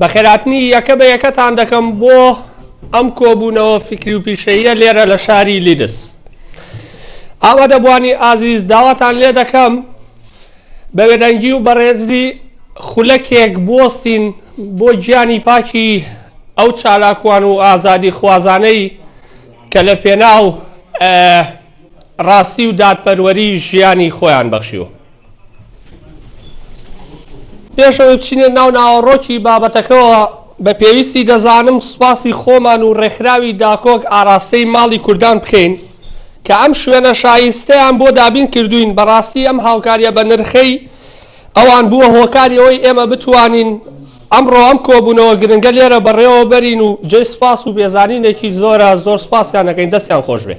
بەخێرهاتنی یەکە بە یەکەتان دەکەم بۆ ئەم کۆبوونەوە فکری و پیشەیە لێرە لە شاری لیدس ئاوا دەبوانی ئازیز داواتان لێ دەکەم بە وێدەنگی و بەڕێزی خولەکێک بستین بۆ گیانی پاکی ئەو چالاکوان و ئازادی خوازانەی کە لە پێناو ڕاستی و دادپەروەری ژیانی خۆیان بەخشیوە پێش ئەوەی بچینە ناو ناوەڕۆکی بابەتەکەەوە بە پێویستی دەزانم سوپاسی خۆمان و ڕێکخراوی داکۆک ئاراستەی ماڵی کوردان بکەین کە ئەم شوێنە شایستەیان بۆ دابین کردوین بەڕاستی ئەم هاوکاریە بە نرخەی ئەوان بووە هۆکاری ئەوەی ئێمە بتوانین ئەمڕۆ ئەم کۆبوونەوە گرنگە لێرە بەڕێوە بەرین و جێ سپاس و بێزانینێکی زۆرە زۆر سپاسیان دەکەین دەستیان خۆش بێ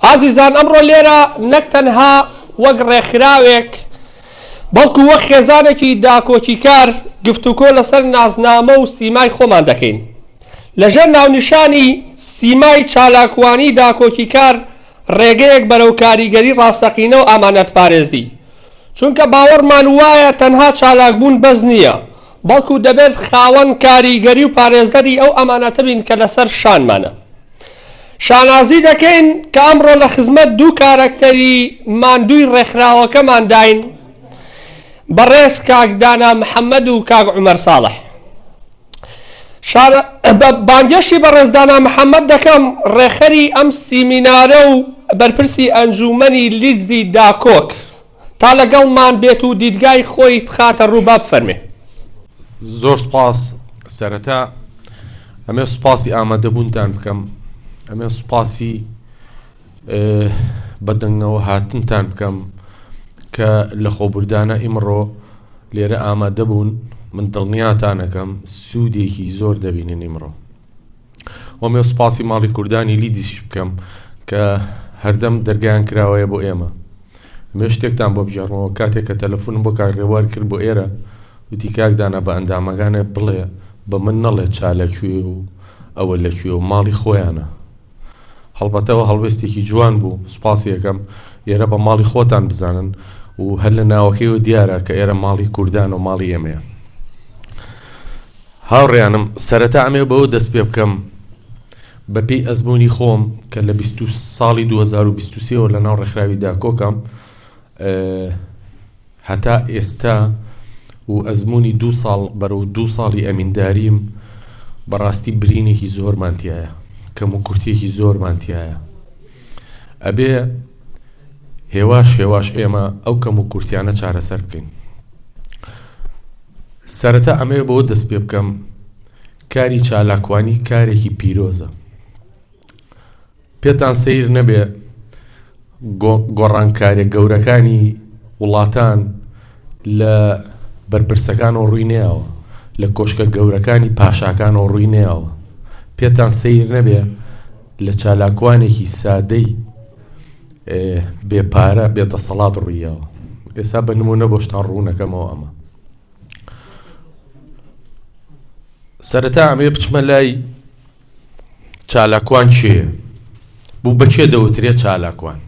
ئازیزان ئەمڕۆ لێرە نەک تەنها وەک ڕێکخراوێک بەڵکو وەک خێزانێکی داکۆکیکار گفتوکۆ لەسەر نازنامە و سیمای خۆمان دەکەین لەژێر ناونیشانی سیمای چالاکوانی داکۆکیکار ڕێگەیەک بەرەو کاریگەری ڕاستەقینە و ئامانەت پارێزی چونکە باوەڕمان وایە تەنها چالاکبوون بەس نییە بەڵکو دەبێت خاوەن کاریگەری و پارێزەری ئەو ئەمانەتە بین کە لەسەر شانمانە شانازی دەکەین کە ئەمڕۆ لە خزمەت دوو کارەکتەری ماندووی ڕێکخراوەکەمانداین، بەڕێز کاک دانا محەممەد و کاک عومەر ساڵح. بانگێشتی بەڕێز دانا محەممەد دەکەم، ڕێکخەری ئەم سیمینارە و بەرپرسی ئەنجوومەنی لیدزی داکۆک. تا لەگەڵمان بێت و دیدگای خۆی بخاتە ڕوو با بفەرمێ. زۆر سپاس سەرەتا ئەمێ سوپاسی ئامادەبوونتان بکەم ئەمێ سوپاسی بەدەنگەوە هاتنتان بکەم کە لە خۆبوردانە ئیمڕۆ لێرە ئامادەبوون من دڵنیاتانەکەم سوودێکی زۆر دەبینن ئیمڕۆ و مێ سپاسی ماڵی کوردانی لیدیسیش بکەم کە هەردەم دەرگیان کراوەیە بۆ ئێمە مێ شتێکتان بۆ بژێڕمەوە کاتێک کە تەلەفۆنم بۆ کاک ڕێوار کرد بۆ ئێرە وتی کاک دانا بە ئەندامەکانێ بڵێ بە من نەڵێ چا لەکوێ و ئەوە لەکوێ و ماڵی خۆیانە هەڵبەتەوە هەڵوێستێکی جوان بوو سوپاسی ئەکەم ئێرە بە ماڵی خۆتان بزانن و هەر لە ناوەکەیەوە دیارە کە ئێرە ماڵی کوردان و ماڵی ئێمەیە هاوڕێیانم سەرەتا ئەمێ بەوە دەست پێ بکەم بەپی ئەزمموی خۆم کە لە 20 ساڵی 2023ەوە لە ناو ڕێکخراوی داکۆکم هەتا ئێستا و ئەزموونی دوو ساڵ بەرەو دوو ساڵی ئەمینداریم بەڕاستی برینێکی زۆرمان تایە کەم و کورتێکی زۆرمان تایە ئەبێ هێواش هێواش ئێمە ئەو کەم و کورتیانە چارەسەر بکەین سەرەتا ئەمەیە بۆ دەست پێ بکەم کاری چالاکوانی کارێکی پیرۆزە پێتان سەیر نەبێ گۆڕانکاریە گەورەکانی وڵاتان لە بەرپرسەکانەوە ڕووی نەیەوە لە کۆشکە گەورەکانی پاشاکانەوە ڕووی نەیەوە پێتان سەیر نەبێ لە چالاکوانێکی سادەی بێ پارە بێ دەسەڵات ڕوویەوە ئێستا بە نمونە بۆشتان ڕوونەکەمەوە ئەمە سەرەتا ئەمێ بچمە لای چالاکوان کێیە؟ بۆ بە کێ دەوترێ چالاکوان؟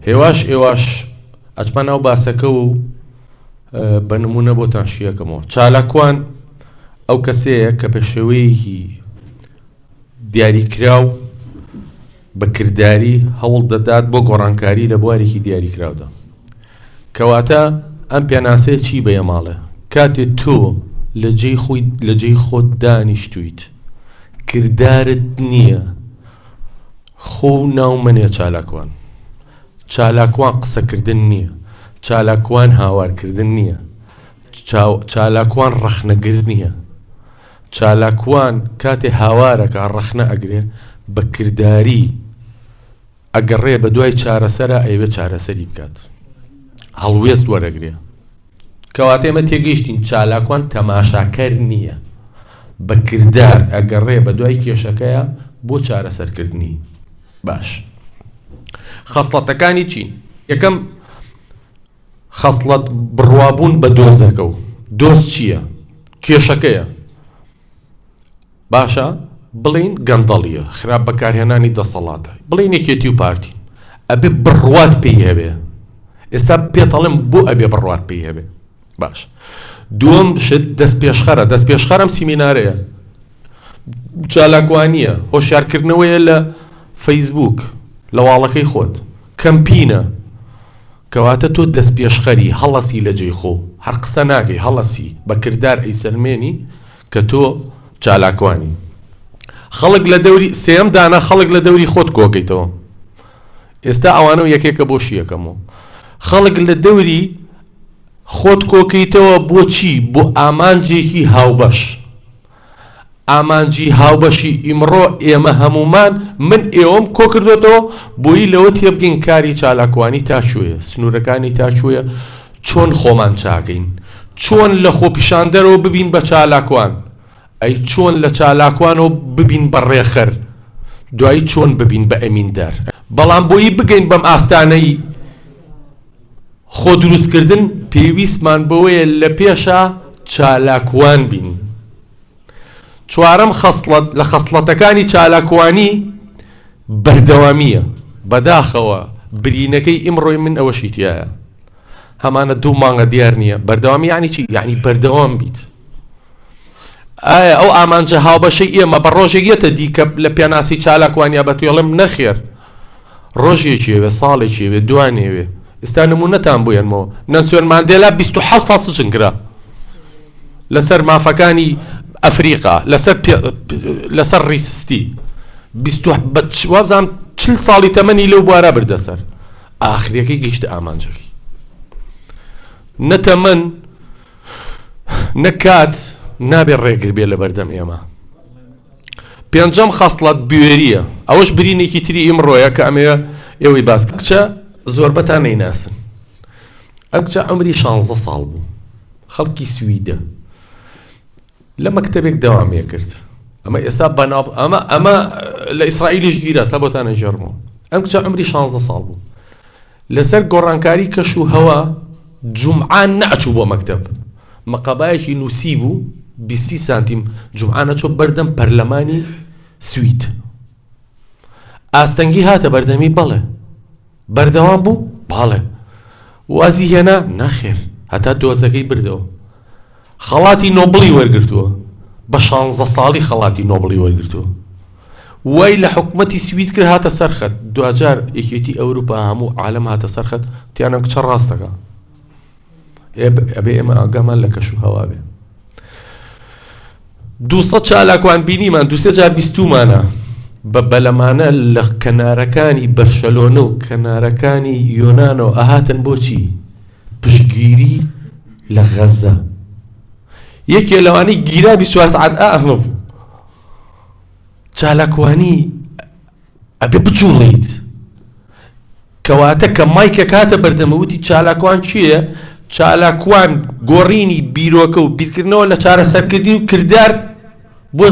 هێواش ئێواش ئەچمە ناو باسەکە و بە نمونە بۆتان شیەکەمەوە چالاکوان ئەو کەسەیە کە پێشێوەیەکی دیاریکراو بە کرداری هەوڵ دەدات بۆ گۆڕانکاری لە بوارێکی دیاریکراودا. کەواتە ئەم پێناسەیە چی بە یەماڵێ؟ کاتێ تۆ لە جێی خۆی لە جێی خۆت دانیشتویت کردارت نییە خۆ و ناو منێ چالاکوان چالاکوان قسەکردن نییە چالاکوان هاوارکردن نییە چالاکوان ڕەخنەگر نییە چالاکوان کاتێ هاوارەکا ڕەخنە ئەگرێ بە کرداری ئەگەڕێ بە دوای چارەسەرا ئەیەوێ چارەسەری بکات هەڵوێست وەرەگرێ. کەواتە ئێمە تێگەیشتین چالاکوان تەماشاکەر نییە بە کردار ئەگەڕێ بە دوای کێشەکەیە بۆ چارەسەرکردنی باش خەسڵەتەکانی چین یەکەم خەسڵەت بڕوابوون بە دۆزەکە و دۆز چییە کێشەکەیە، باشە بڵێین گەندەڵییە، خراپ بەکارهێنانی دەسەڵاتە، بڵێین یەکێتی و پارتی، ئەبێ بڕوات پێی هەبێ، ئێستا پێت ئەڵێم بۆ ئەبێ بڕوات پێی هەبێ، باشە دووەم شت دەستپێشخەرە، دەستپێشخەر ئەم سیمینارەیە، چالاکوانییە، هۆشیارکردنەوەیە لە فەیسبووک، لە واڵەکەی خۆت، کەمپینە. کەواتە تۆ دەستپێشخەری، هەڵەسی لە جێی خۆو، هەر قسە ناکەی، هەڵەسی، بە کردار ئەیسەلمێنی کە تۆ چالاکوانی. خەڵک لە دەوری، سێیەم دانە، خەڵک لە دەوری خۆت کۆکەیتەوە. ئێستا ئەوانەو یەکێکە بۆ شیەکەم و. خەڵک لە دەوری خۆت کۆکەیتەوە بۆ چی؟ بۆ ئامانجێکی هاوبەش. ئامانجی هاوبەشی ئیمڕۆ ئێمە هەموومان، من ئێوەم کۆکردۆتەوە، بۆیی لەوە تێبگەین کاری چالاکوانی تا کوێیە، سنوورەکانی تا کوێیە، چۆن خۆمان چاکەین، چۆن لە خۆپیشاندەرەوە ببین بە چالاکوان، ئەی چۆن لە چالاکوانەوە ببین بە ڕێخەر، دوایی چۆن ببین بە ئەمیندار، بەڵام بۆیی بگەین بەم ئاستانەی، خۆدروستکردن پێویستمان بەوەیە لە پێشا چالاکوان بین. چوارەم خەسڵەت لە خەسڵەتەکانی چالاکوانی بەردەوامییە. بەداخەوە برینەکەی ئیمڕۆی من ئەوەشی تیایە. هەمانە دوو مانگە دیار نییە. بەردەوامی یانی چی؟ یانی بەردەوام بیت. ئایا ئەو ئامانجە هاوبەشەی ئێمە بە ڕۆژێک یەتە دیکە لە پێناسی چالاکوانیا بەتوێڵم نەخێر. ڕۆژێکی ئەوێ ساڵێکی ئەوێ دوانێ ئەوێ ئێستا نمونەتان بوێنمەوە نەسوێن مادێلا 26 سا سجن کرا لەسەر مافەکانی ئەفریقا لەسەر لەسەر ڕیستی وابزانام چل ساڵی تەمەنی لەو بوارە بردە سەر ئاخریەکەی گەیشتە ئامانجەکەی نەتەمەن نەکات نابێ ڕێگر بێ لە بەردەم ئێمە پێنجەم خەسڵەت بوێرییە، ئەوەش برینێکی تری ئیمڕۆیە کە ئەمەوێ ئێوەی باس بکەم. ئەم کچە زۆربەتان نەیناسن، ئەم کچە عەمری شانزە ساڵ بوو، خەڵکی سویدە، لە مەکتەبێک دەوام ئەکرد، ئەمە ئێستا بەناو، ئەمە لە ئیسرائیلیش گیرا سا بۆتان ئەگێڕمەوە، ئەم کچە عەمری شانزە ساڵ بوو، لەسەر گۆڕانکاری کەش و هەوا جومعە نەئەچوو بۆ مەکتەب، مقابایەکی نووسیبوو بیست سی سانتیم جومعە نەچوو بەردەم پەرلەمانی سوید ئاستەنگی هاتە بەردەمی بەڵێ بەردەوام بوو بەڵێ وازی هێنا نەخێر هەتا دۆزەکەی بردەوە. خەڵاتی نۆبڵی وەرگرتووە، بە شانزە ساڵی خەڵاتی نۆبڵی وەرگرتووە. وای لە حکومەتی سوید کرد هاتە سەر خەت، دواجار یەکێتی ئەوروپا هەموو عالەم هاتە سەر خەت وتیان ئەم کچە ڕاست دەکا. ئێ ئەبێ ئێمە ئاگامان لە کەش و هەوا بێ. دوو سەد چالاکوان بینیمان، دوو سێ جار بیستوومانە. بە بەلەمانە لە کەنارەکانی بەرشەلۆنە و کەنارەکانی یۆنانەوە ئەهاتن بۆچی؟ پشتگیری لە غەزە یەکێ لەوانی گیرا بیسوار سعات ئەهڵم چالاکوانی ئەبێ بچوڵیت کەواتە کە مایکە کاتە بەردەمەوتی چالاکوان چییە چالاکوان گۆڕینی بیرۆکە و بیرکردنەوە لە چارەسەرکردنی و کردار بۆ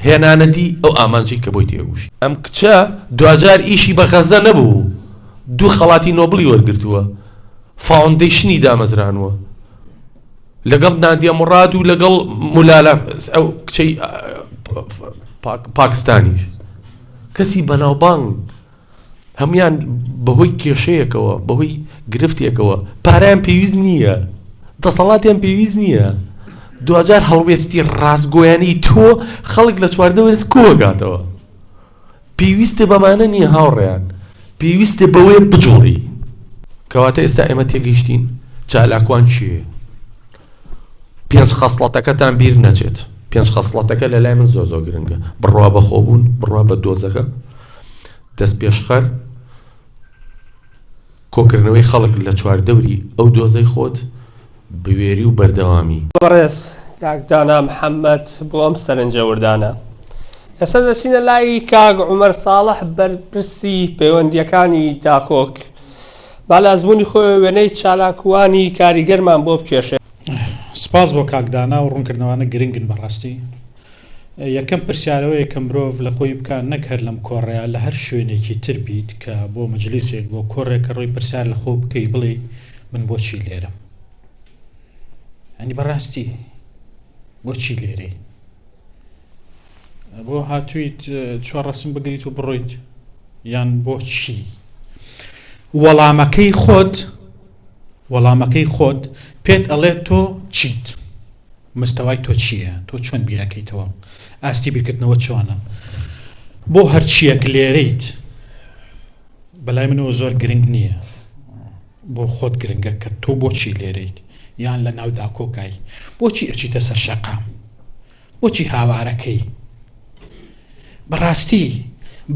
هێنانەدی ئەو ئامانجەی کە بۆی تێکوشی. ئەم کچە دواجار ئیشی بە غەزە نەبوو و دوو خەڵاتی نۆبڵی وەرگرتووە، فاوندەیشنی دامەزرانووە لەگەڵ نادیە موڕاد و لەگەڵ ملالا ئەو کچەی پاکستانیش کەسی بەناوبانگ. هەموویان بەهۆی کێشەیەکەوە بەهۆی گرفتێکەوە پاریان پێویست نییە دەسەڵاتیان پێویست نییە دوجار هەڵوێستی ڕاستگۆیانی تۆ خەڵک لە چواردەوەت کۆگاتەوە پێویستە بەمانە نییە هاوڕێیان پێویستە بەوەیە بجوڵی کەواتە ئێستا ئێمە تێگەیشتین چالاکوان چیە پێنج خەسڵەتەکەتان بیر نەچێت پێنج خەسڵەتەکە لە لای من زۆ زۆ گرنگە بڕوا بەخۆبوون بڕوا بە دۆزەکە دەستپێشخەر، کۆکردنەوەی خەڵک لە چواردەوری ئەو دۆزەی خۆت، بوێری و بەردەوامی. بەڕێز کاک دانا محەمەد بۆ ئەم سەرنجە وردانە. ئێستا دەچینە لای کاک عومەر ساڵح بەرپرسی پەیوەندییەکانی داکۆک با لە ئەزموونی خۆی وێنەی چالاکوانی کاریگەرمان بۆ بکێشێت. سپاس بۆ کاک دانا و ڕوونکردنەوانە گرنگن بەڕاستی. یەکەم پرسیار ئەوەیە کە مرۆڤ لە خۆی بکات نەک هەر لەم کۆڕەیا لە هەر شوێنێکی تر بیت کە بۆ مەجلیسێک بۆ کۆڕێک کە ڕۆی پرسیار لە خۆ بکەی بڵێ من بۆچی لێرەم ئەنی بەڕاستی بۆچی لێرەی بۆ هاتوویت چوار ڕسم بگریت و بڕۆیت یان بۆچی وەڵامەکەی خۆت وەڵامەکەی خۆت پێت ئەڵێت تۆ چیت مستەوای تۆ چییە؟ تۆ چۆن بیرئەکەیتەوە؟ ئاستی بیرکردنەوەت چۆنە؟ بۆ هەرچییەک لێرەیت بەلای منەوە زۆر گرنگ نییە بۆ خۆت گرنگە کە تۆ بۆچی لێرەیت یان لە ناودا کۆکای بۆچی ئەچیتە سەر شەقام بۆچی هاوارەکەی بەڕاستی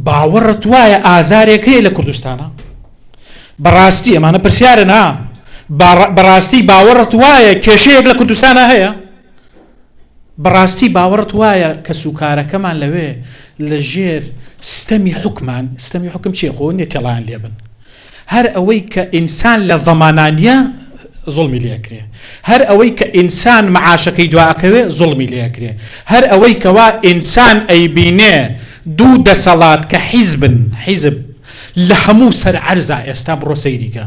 باوەڕت وایە ئازارێک هەیە لە کوردستانە بەڕاستی ئەمانە پرسیارە نا بەڕاستی باوەڕت وایە کێشەیەک لە کوردستانە هەیە بەڕاستی باوەڕت وایە کە سوکارەکەمان لەوێ لە ژێر ستەمی حکمان ستەمی حکم چێ خۆ نێتێڵان لێبن هەر ئەوەی کە ئینسان لە زەمانا نیە زوڵمی لێ ئەکرێ هەر ئەوەی کە ئینسان معاشەکەی دوا ئەکەوێ زوڵمی لێ ئەکرێ هەر ئەوەی کەوا ئینسان ئەیبینێ دوو دەسەڵات کە حیزبن حیزب لە هەموو سەر عەرزا ئێستا بڕۆ سەیریکە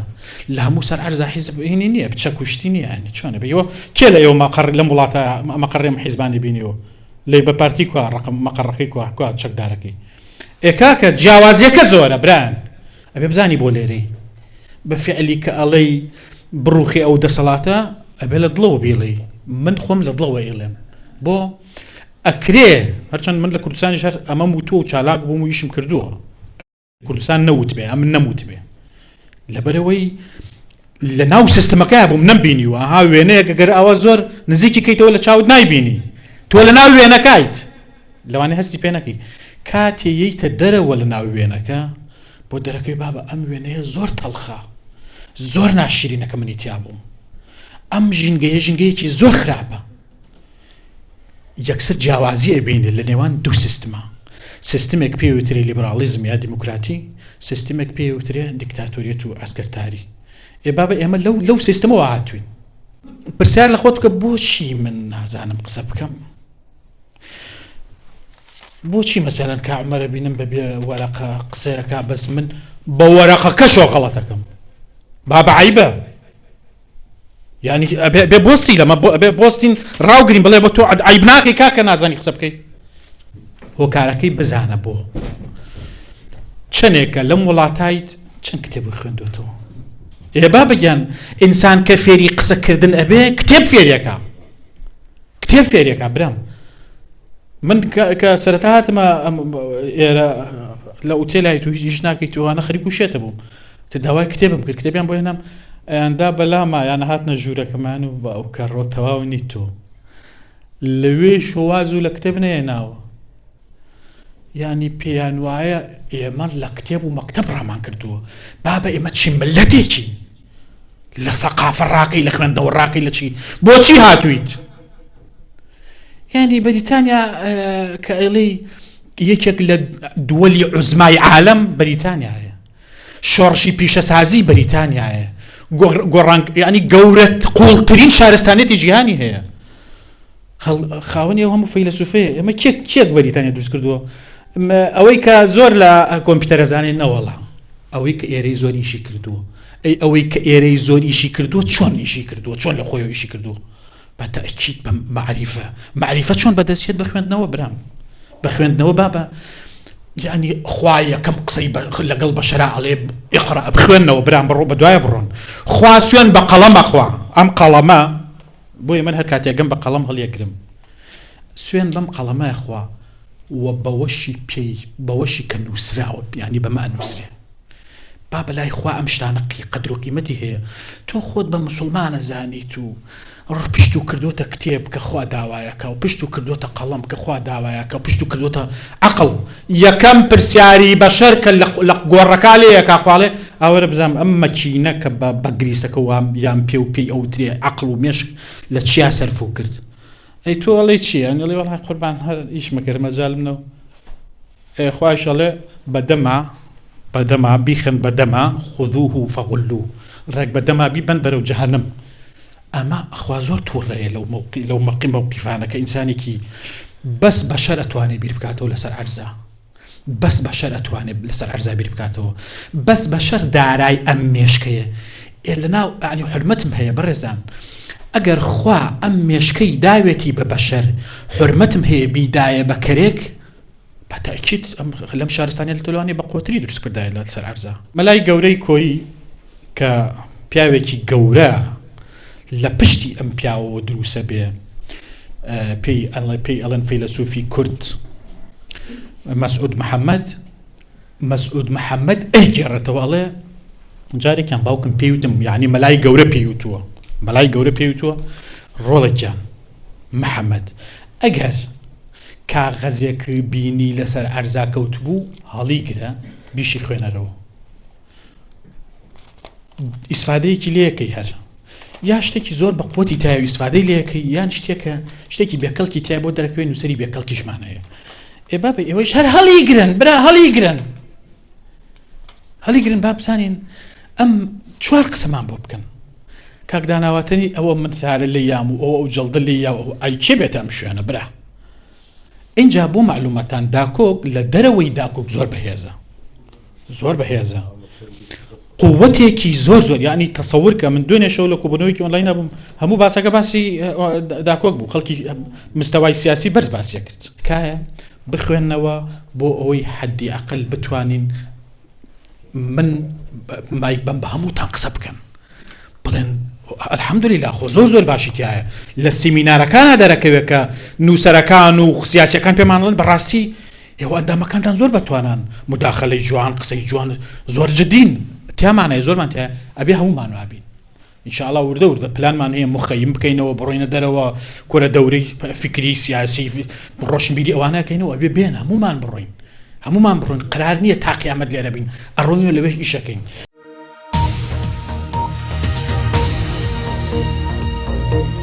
لە هەموو سەر عەرزا حیزب هینی نییە بچە کوشتی نییە ئەنی چۆنە بەیەوە کێ لە ئێوە مەقڕ لەم وڵاتە مەقڕێم حیزبانی بینیەوە لێ بە پارتی کوا ڕقم مەقڕەکەی کوا کوا چەکدارەکەی ئێکاکە جیاوازیەکە زۆرە بران ئەبێ بزانی بۆ لێرەی بە فعلی کە ئەڵێی بڕوخی ئەو دەسەڵاتە ئەبێ لە دڵەوە بیڵێ من خۆم لە دڵەوە ئێڵێم بۆ ئەکرێ هەرچەند من لە کوردستانی شەر ئەمەم وتووە و چالاک بووم و یشم کردووە کوردستان نەوتبێ ئەم نەموتبێ لەبەرەوەی لە ناو سیستمەکەیا بووم نەم بینیوە ها وێنەیەکە گەر ئاوا زۆر نزیکی کەیتەوە لە چاوت نایبینی تۆ لە ناو وێنەکایت لەوانێ هەستی پێ نەکەی کاتێ یەیتە دەرەوە لە ناو وێنەکە بۆ دەرەکەی بابە ئەم وێنەیە زۆر تەڵخە زۆر ناشیرینەکە منی تیا بووم ئەم ژینگەیە ژینگەیەکی زۆر خراپە یەکسەر جیاوازی ئەبینێت لە نێوان دوو سیستما، سیستمێک پێی وترێ لیبراڵیزم یا دیموکراتی، سیستمێک پێی وترێ دیکتاتۆریەت و عەسکەرتاری. ئێ بابە ئێمە لەو لەو سیستمەوە هاتووین. پرسیار لە خۆت بکە بۆچی من نازانم قسە بکەم؟ بۆچی مەسەلەن کا عمەرە بینم بەبێ وەرەقە قسەیەکە بەس من بە وەرەقەکەشەوە غەڵەتەکەم بابعیبە یعنی بێ بۆستی لەمە بێ بۆستین ڕاوگرین بڵێ بە تۆ عیب ناکەی کاکە نازانی قسە بکەیت هۆکارەکەی بزانە بۆ چەندێکە لەم وڵاتایت چەند کتێبی خوێندوێتەوە ئێ با بگیان ئینسان کە فێری قسەکردن ئەبێ کتێب فێریەکە کتێب فێریەکە برام من کە سەرەتا هاتمە ئێرە لە ئوتێلای تو هیچ ناکەیت توانە خەریکو شێتە بووم داوای کتێبم کرد کتێبیان بۆ هێنام ئەیاندا بەلاما یانە هاتنە ژوورەکەمان و بە ئەو کەڕۆ تەواو نیت تۆ لەوێ شۆواز و لە کتێب نەیە ناوە ینی پێیان وایە ئێمە لە کتێب و مەکتب ڕامان کردووە بابە ئێمە چی ملەتێکی لە سەقافە ڕاقی لە خوێندەوە ڕاقی لە چی بۆچی هاتوویت ینی بەریتانیا کە ئەڵی یەکێک لە دووەلی عزمای عالم بەریتانیا هەیە شۆڕشی پیشەسازی بەریتانیایە گۆڕانگ یعنی گەورەت قوڵترین شارستانێتی جیهانی هەیە خاوەنی ئەو هەموو فەیلەسوفەیە ئەمە کێک کێک بەریتانیا دروست کردووە ئەوەی کە زۆر لە کۆمپیوتەرە زانێت نەوەڵا ئەوەی کە ئێرەی زۆر ئیشی کردووە ئەی ئەوەی کە ئێرەی زۆر ئیشی کردووە چۆن ئیشی کردووە چۆن لە خۆی ئیشی کردووە بە تەئکید بە مەعریفە مەعریفە چۆن بەدەست یەت بە خوێندنەوە برام بە خوێندنەوە بابە یانی خوا یەکەم قسەی لەگەڵ بە شەرا ئەڵێ ئقرا بخوێنەوە برام بڕۆ بە دوایە بڕۆن خوا سوێن بە قەڵەمە خوا ئەم قەڵەمە بۆیە من هەر کاتێکگەم بە قەڵەم هەڵیەگرم سوێن بەم قەڵەمای خوا و بەوەشی پێی بەوەشی کە نووسراوە بیانی بەمە نووسێ با بەلای خوا ئەم شتانە قی قەدرو قیمەتی هەیە تۆ خۆت بە موسوڵمان ئەزانیت و ڕ پشتو کردۆتە کتێب کە خوا داوایەکە و پشتو کردۆتە قەڵەم کە خوا داوایەکە و پشتو کردۆتە عەقڵ یەکەم پرسیاری بەشەر کە لە لە گۆڕەکا لێ ئەکا خوا ئەڵێ ئاوەرە بزانم ئەم مەکینە کە بە بە گریسەکە وا یان پێ و پێی ئەوترێ عەقڵ و مێشک لە چیا سەرفو کرد ئەی تۆ ئەڵێی چی ئەنێڵی وەڵای قوربان هەر ئیش مەکەر مەجالم نەبو. ئێ خوایش ئەڵێ بە دەما بە دەما بیخەن بە دەما خذوه فغلوه ڕێک بە دەما بیبەن بەرەو جەهەنم ئەمە خوا زۆر توڕەیە لەو مەوقی لەو مەقی مەوقیفانە کە ئینسانێکی بەس بەشەر ئەتوانێ بیر بکاتەوە لەسەر عەرزا بەس بەشەر ئەتوانێت لەسەر عەرزا بیر بکاتەوە بەس بەشەر دارای ئەم مێشکەیە ئێ لە ناو ئەنی حرمەتم هەیە بەڕێزان ئەگەر خوا ئەم مێشکەی داوێتی بە بەشەر حرمەتم هەیە بیدایە بە کەرێک بەتاکیت لەم شارستانیە لەتەلوانی بە قۆتری دروست کردای لە سەر عرزە مەلای گەورەی کۆری کە پیاوێکی گەورە لە پشتی ئەم پیاوەوە دروسە بێ پێی ئەڵێ پێی ئەڵەن فەیلەسوفی کورد مەسعود محەممەد مەسعود محەممەد ئەیگێڕێتەوە ئەڵێ جارێکیان باوکم پێیوتم یعنی مەلای گەورە پێیوتووە مەلای گەورە پێیوتووە ڕۆڵێکیان محەممەد ئەگەر کاغەزێک بینی لەسەر عەرزا کەوتبوو هەڵیگرە بیشی خوێنەرەوە ئیسفادەیەکی لەکەی هەر یا شتێکی زۆر بە قوتی تای و ئیسفادەی لەکەی یان شتێکە شتێکی بێکەڵکی تای بۆ دەرکوێ نووسری بێکەڵکیشمان هەیە ئێ با بە ئێوەش هەر هەڵی گرن برا هەڵی گرن هەڵی گرن با بزانین ئەم چوار قسەمان بۆ بکەن کاک دانا واتەنی ئەوە من سارە لێ یام و ئەو ئەو جەڵدە لێ یاو ئەو ئای کێ بێتە ئەم شوێنە برا ئینجا بۆ معلوماتان داکۆک لە دەرەوەی داکۆک زۆر بەهێزە زۆر بەهێزە قوتێکی زۆر زۆر ینی تەسەور کە من دوێنێشەوە لە کوبنەوەیکی ئۆنلاین نەبووم هەموو باسەکە باسی داکۆک بوو خەڵکی مستەوای سیاسی بەرز باسیە کرد تکایە بخوێندنەوە بۆ ئەوەی حەدی عقل بتوانین من مای بم بە هەمووتان قسە بکەن بڵێن ئەلحەمدلیلا خۆ زۆر زۆر باشی تایە لە سیمینارەکانە دەرەکەوێت کە نووسەرەکان و خسیاسەکان پێمانڵن بەڕاستی ئێوە ئەندامەکانتان زۆر بەتوانان مداخلەی جوان قسەی جوان زۆر جدین تیامانە زۆرمان تیا ئەبێ هەمومان وابین ان شاء اللە وردە وردە پلانمان هەیە مخیم بکەینەوە بڕۆینە دەرەوە کورە دەورەی فکری سیاسی ڕۆشنبیری ئەوانەکەینەوە ئەبێ بێن هەمومان بڕۆین هەمومان بڕۆین قرار نییە تاقیامەت لێرە بین ئەڕۆین لەوێش ئیشەکەین